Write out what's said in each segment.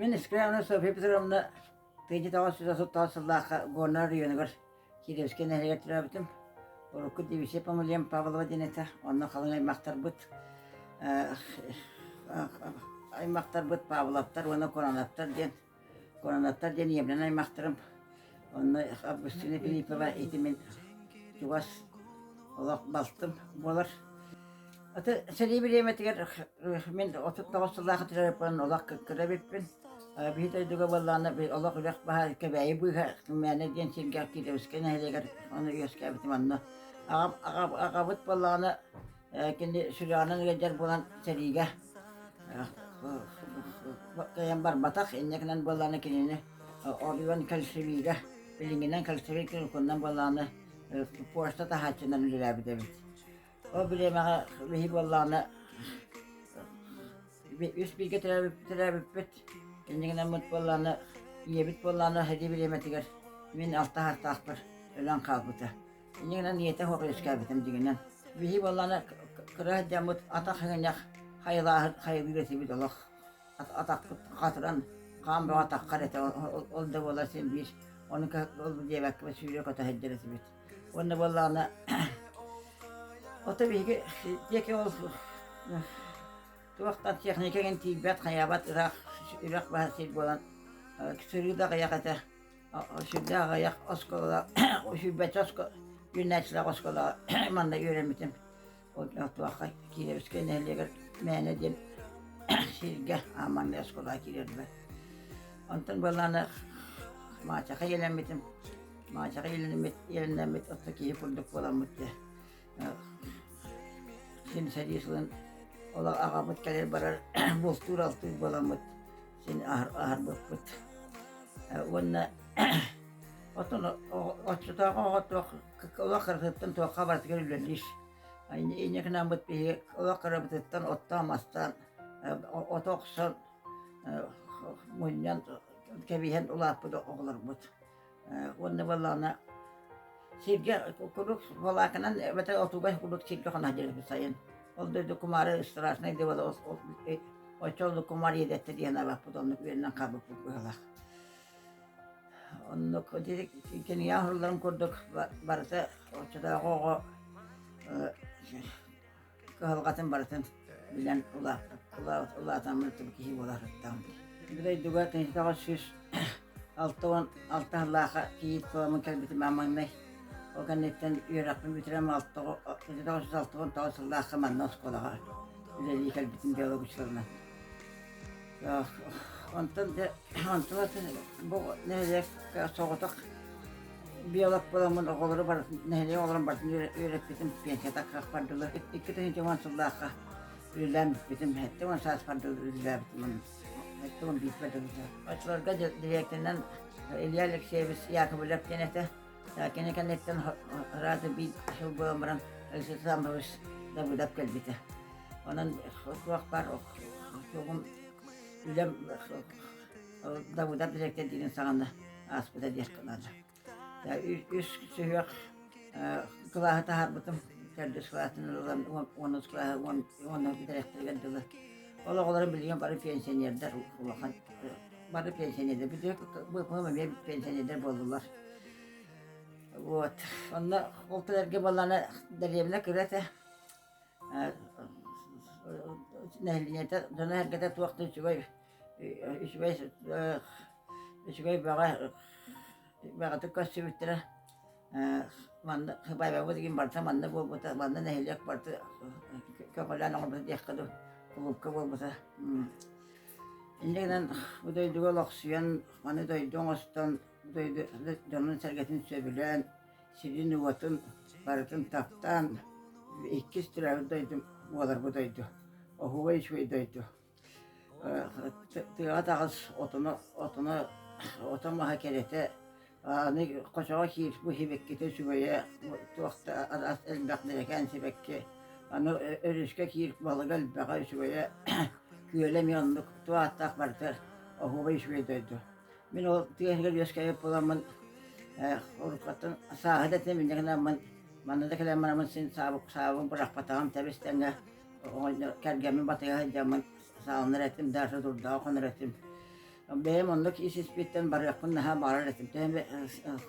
Мин Искряна Софья Петровна тыйдьа тоҕус сүүс отуттаах сыллаахха Горнай оройуонугар Кириэскэ нэһилиэк төрөөбүтүм. Урукку дивизия помыльем Павлова диэн этэ. Онно халыҥ аймактарбыт аймактарбыт Павловтар уонна Куранаттар диэн Куранааттар диэн иемнэн аймахтарым. Онно Августина Филиппова итимин чугас олох балтым буолар. Аты сэрии бириэмэтигэр мин отут тоҕус сыллаах терапевтан олох кыккыра эбиппин. Биһи дойдуга буоллаҕына олох үрэх баһа Кэбээйи быыһа мээнэ диэн сиргэ киирэ Өскө нэһилиэгэр ону үөскээбитим онно. Аҕам аҕабыт буоллаҕына Кини сюжетынан ыалдьар буолан сэриигэ кыайан барбатах. Инникинэн буоллаҕына кинини Орион Кольцевига, билиҥҥинэн Кольцевий Киркуннан буоллаҕына пошта таһааччынан үлэлээбит эбит. Ол бириэмэҕэ биһи буоллаҕына үс бииргэ төрөөбүппүт. Инникинэммит буоллаҕына, ийэбит буоллаҕына, сэрии бириэмэтигэр мин алта саастаахпар өлөн хаалбыта. Инньэ гынан ийэтэ хоруй искээбитим дигинэн. Биһи буоллаана кыра сылдьаммыт атах иҥнэх хайылааһыт хайылыыр этибит олох. Атахпыт хатыран хаан бөҕө атаххар этэ ол да буолар син биир ону ол диэбэккэ сүүрэ көтө сылдьар этибит. Уонна буоллаҕына ото биһиги диэки ол туохтан техника кэн тиийбэт хайаабат ирэх үрэх баһа сир буолан сырыы да аҕыйах этэ. сүрдээх аҕыйах оскуола сүүрбэччэ юнайтидаах оскуолаҕа манна үөрэммитим. Туохха Кириэбискэй нэһилиэгэр мээнэ диэн сиргэ ааманнай оскуолаҕа киирэрбэр. Онтон буоллаҕына Маачаха иэлэммитим. Маачаха иэлэммит оттон киһи курдук буоламмыт дии. Симсэ биир сылын ол аҕабыт кэлэр-барар бултуур-алтыыр буоламмыт син аһарбыппыт уонна отону оччотооҕу оҕо туох олох кыратыттан туохха барытыгар үлэлиир инньэкинааммыт биһиги олох кырабытыттан оттоон-мастаан ото охсон мунньан кэбиһэн улааппыт оҕолорбут уонна буоллаҕына сиргэ куруук волоканан эбэтэр отугай куруук сиргэ хонаһдьырыһыт сайын ол дойду кумаары страшнай дыбала оччолору кумар иэдэттэ диэн абаппыт оннук үөннэн хабыппыт быһалах оннук кинигэ оһорлорун курдук барыта оччотооҕу оҕо кыһалҕатын барытын билэн улаатаммыт киһи буолаахыттаам. Бу дойдуга кинитэҕэ сүүс алта уон алта ыллааха кийиит куламын кэлбитим аманнай. Ол кэнниттэн үөрэхпин бүтэрэм алта үс алта уон тоҕус ыллаахха манна оскуолаҕа үлэлии кэлбитим биологическалынан. Онтон да онтон атын бу нэһилиэк соҕотох биолог буоламмын оҕолору бары нэһилиэк оҕолорун бардын үөрэппитим пенсията каахпар дылы икки тыһыынча уон сыллаахха үлэлээбиппитим сэттэ уон сааспар дылы үлэлээбиппин сэттэ уон бииргэ дылы очолорго дириэктэринэн Илья Алексеевич Яковлев диэн этэ Кини кэнниттэн Рада биир сыл буолан баран Алексей Александрович Давыдов кэлбитэ. Онон туохпар тугум үлэм Давыдов дириэктэр диирин саҕана ааспыта диэххэ наада. Үс сүһүөх кылааһы таһаарбытым төрдүс кылаатын ылан уонус кылааһы уонна дириэктэригэр дылы Ол оҕолорум билигин бары пенсионердар улахан бары пенсионердар быыппам эмиэ пенсионердар буоллулар. Вот. Онно ол кэлэргэ буоллаана дэриэбинэ кыра этэ. Нэһилиэнньэтэ дьоно эргэтэ туох да үчүгэй үчүгэй үчүгэй баҕа баҕатык көрсүбүттэрэ манна Байбаҥҥа тигин барыта манна буолбута манна нэһилиэк барыта көмөлөөн оҥорбута диэххэ дылы уһукка буолбута инньэ гынан бу дойдуга олохсуйан маны дойду оҥостон бу дойду дьонун-сэргэтин сөбүлээн сирин-уотун барытын таптаан иккис төрөөбүт дойдум буолар бу дойду оһуобай үчүгэй дойду тыаҕа таҕыс отоно отоно ото маһа кэрэтэ аны хочоҕо киир быһибиккитэ үчүгэйэ туох да араас элбэх нэлэкээн сибэкки аны өрүскэ киир балыга элбэҕэ үчүгэйэ күөлэ эмиэ оннук ту ааттаах барыта оһуобай үчүгэй дойду мин ол тыа иһигэр үөскэбит буоламмын уруккаттан сааһы да этинэ минньигэни аммын манна да кэлэн бараммын син саабын бырахпатаҕым тэбис тэҥҥэ кэргэммин батыйа сылдьаммын сааланар этим, Даша турдаҕа хонор этим. Бэйэм оннук ис испиттэн барыахпын наһаа баҕарар этим. Төһөн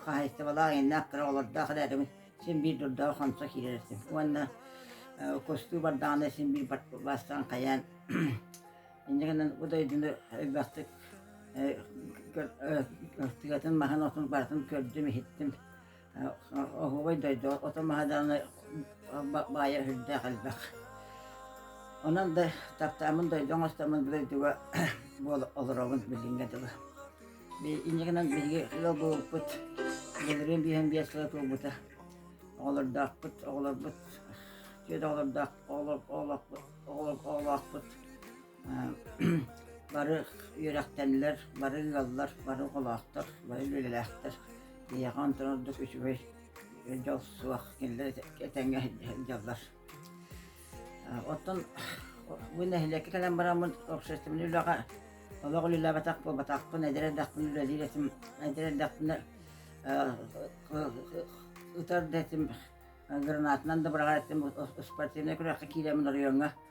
хаһаайыстыбалаах иэннээх кыра олордоох эрээри син биир турдаҕа хонсо киирэр этим. Уонна кустуу бардаҕына син биир бастаан хайаан инньэ гынан бу дойдуну элбэхтик тыгатын маһын отун барытын көрдүм иһиттим. оһуобай дойду ото маһа даҕаны баайа сүрдээх элбэх. Онон да таптааммын дойду оҥостоммун дойдуга буола олоробун билиҥҥэ дылы. Иннигинэн биһиги ыал буолбуппут былырыын биһэн биэс сыла туолбута. Оҕолордоохпут, оҕолорбут, түөрт оҕолордоох оҕолоохпут бары үөрэхтэннилэр, бары ыаллар, бары оҕолоохтор, бары үлэлээхтэр. Эйиэхэ онтон ордук үчүгэй дьол суох кинилэр этэҥҥэ сылдьаллар. Оттон бу нэһилиэккэ кэлэн бараммын общественнай үлэҕэ олох үлэлээбэтэх буолбатахпын, эдэр эрдэхпин үлэлиир этим, эдэр эрдэхпинэ ытар да этим, гранатынан да быраҕар этим, спортивнай күрэххэ киирэммин оройуоҥҥа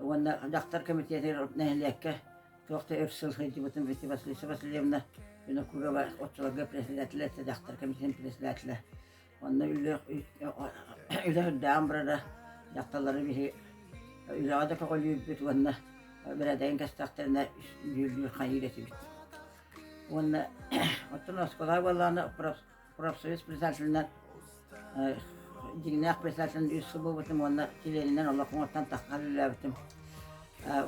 уонна дьахтар комитетигар нэһилиэккэ туох да өр сыл сылдьыбытым Витя Васильевна Васильевна Винокурова оччолорго председателэ этэ дьахтар комитетин председателэ онно үлэ үлэ үрдээн барара дьахталлары биһи үлэҕэ да көҕүлүүрбүт уонна бэрээдэйин кэстэхтэринэ дьүүллүүр хайыыр этибит уонна оттон оскуола буоллаҕына профсоюз председателинэн дьиҥнээх председателин үс сыл буолбутум уонна чилиэнинэн олох оҥостон тахсан үлэлээбитим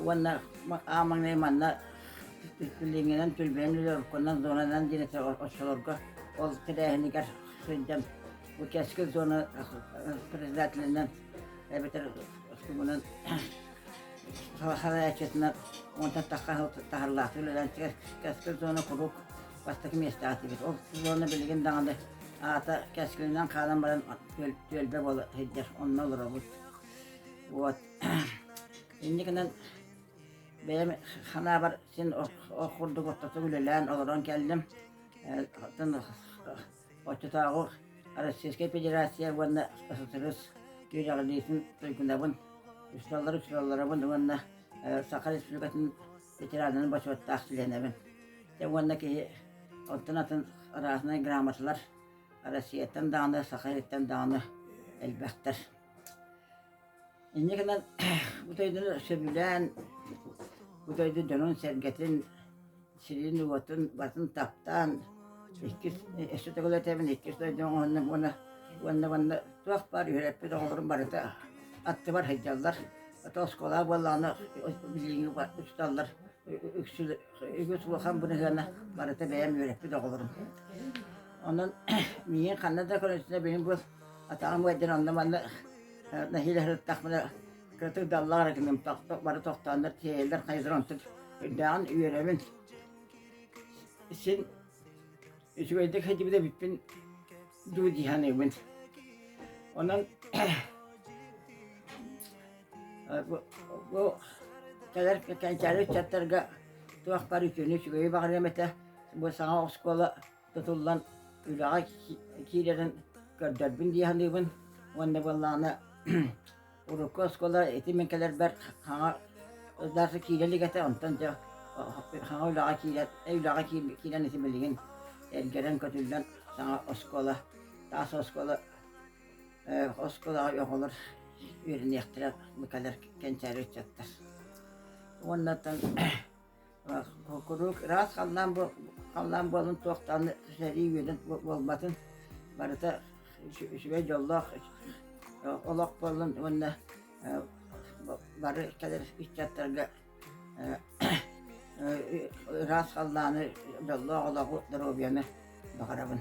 уонна аа маҥнай манна пилиҥинэн түрбээн үлэ зонанан диэн оччолорго ол тэрээһинигэр сылдьан бу кэскил зона председателинэн эбэтэр тумунан салайааччытынан оҥостон тахсан таһарлаахтык үлэлээн кэскил зона куруук бастакы миэстэҕэ атыыбыт. Ол сезоҥҥа билигин даҕаны аата кэскилинэн хаалан баран түөлбэ буола сылдьар, онно олоробут. Вот. Инникинэн бэйэм санаабар син ол курдук ортотук үлэлээн олорон кэллим. Оччотооҕу Российскай Федерация уонна ССРС күрэҕилиитин туйгунабын, үсталлар-үсталларабын уонна Саха Республикатын ветеранынан бочуоттаах чилиэнэбин. Дьэ уонна киһи онтон атын рааснай грамоталар Россияттан даҕаны, Саха Ириттэн даҕаны элбэхтэр. Инньэ гынан бу дойдуну сөбүлээн бу дойду дьонун-сэргэтин, сирин-уотун батын таптаан иккис өссө төгүл этэбин иккис дойдум уонна уонна уонна уонна туох баар үөрэппит оҕолорум барыта аттыбар сылдьаллар. Это оскуола буоллаҕына билиҥҥи учууталлар үгүс улахан быныһыана барыта бэйэм үөрэппит оҕолорум. Онон миин ханна да көрөсүнэ биним бу атаҕым айдан онно манна нэһиилэһырыттахмына кытык даллар гыным тохток бары тохтооннор тиэйэлэр хайдыр онтут үрдэҕин үөрөбүн син үчүгэйдик хэдибидэ бүппүн дуу дии саныыбын. Онон бу, бу кэлэр кэнчээри ыччаттарга туохпар үтүөнү үчүгэйи баҕарыам этэ. Бу саҥа оскуола тутуллан үлэҕэ киирэрин көрдөрбүн дии саныыбын. Уонна буоллаҕына урукку оскуола ити мин кэлэрбэр хаҥа ырдааса киирэ илик этэ онтон дьэ хаҥа үлэҕэ киирэн үлэҕэ киирэн ити билигин эргэрэн көтүллэн саҥа оскуола таас оскуола оскуолаҕа оҕолор үөрэниэхтэрэ кэлэр кэнчээри ыччаттар уонна куруук ыраас халлаан халлаан буолан туохтаан сэрии үөдэн буолбатын барыта үчүгэй дьоллоох олох буоллун уонна бары кэлэр ыччаттарга ыраас халлааны дьоллоох олоҕу доруобуйаны баҕарабын